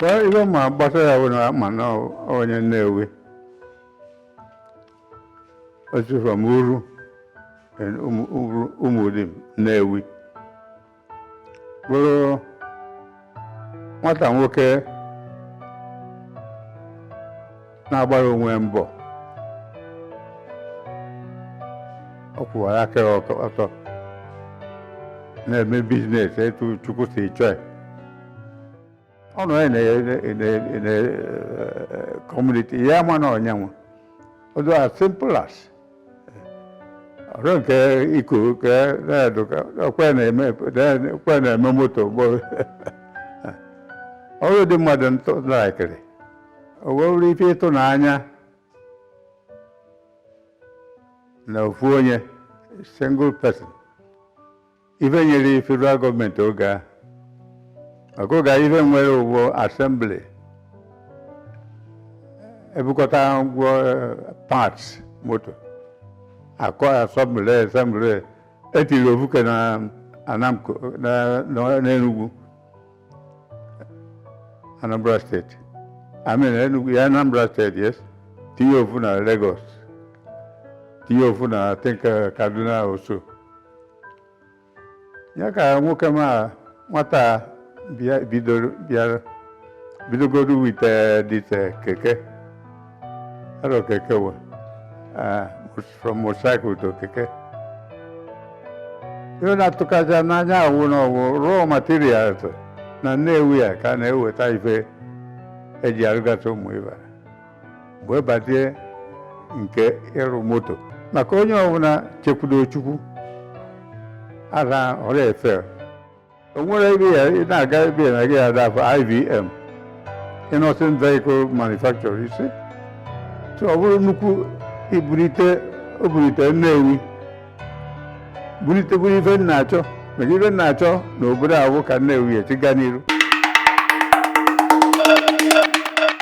ihe m ma gbasa ya bụ na m ma na onye Nnewi o si from Uru and Umu- Uru- Umudim Nnewi bụrụ nwata nwoke na-agbara onwe ya mbọ ọ kwụwara aka ya ọtọ- ọtọ na-eme business etu Chukwu si chọọ ya. ọ nọ ya na community ya ma na onye ahụ ọ dị as simple as ọrụ nke iku ka na-adụ ka ọkwa na-eme ọkwa na-eme moto bụ ọrụ dị mmadụ ntụ laikiri o wee bụrụ ife ịtụnanya na ofu onye single person ife nyere federal government oge a maka oge a ife nwere ụgbọ assembly e bukọta ngwa parts moto a ka assemble assemble e tiri ofu ke na ANAMMCO na na- n'Enugwu Anambra State. I mean, Enugu, yeah, Anambra State, yes. Tinye ofu na Lagos. Tinye ofu na, I think, uh, Kaduna also. Ya ka nwoke m a nwata a bịa bidoro bịara bidogodu with uh, this uh, keke. Arụ keke wa. Uh, from motorcycle to keke. Ihe na-atụkazị n'anya wụ na ọ wụ raw materials na Nnewi a ka a na-eweta ife e ji arụgasị ụmụ ife wee bazie nke ịrụ moto maka onye ọbụla chekwudo Chukwu ala ọrụ efe o nwere ebe ya ị na-aga ebe ya na gị ada afụ IVM Innoson Vehicle Manufacturer you see so ọ bụrụ nnukwu ibulite o bulite Nnewi bulitekwuru ife m na-achọ maka ife m na-achọ na obodo ahụ ka Nnewi si gaa n'iru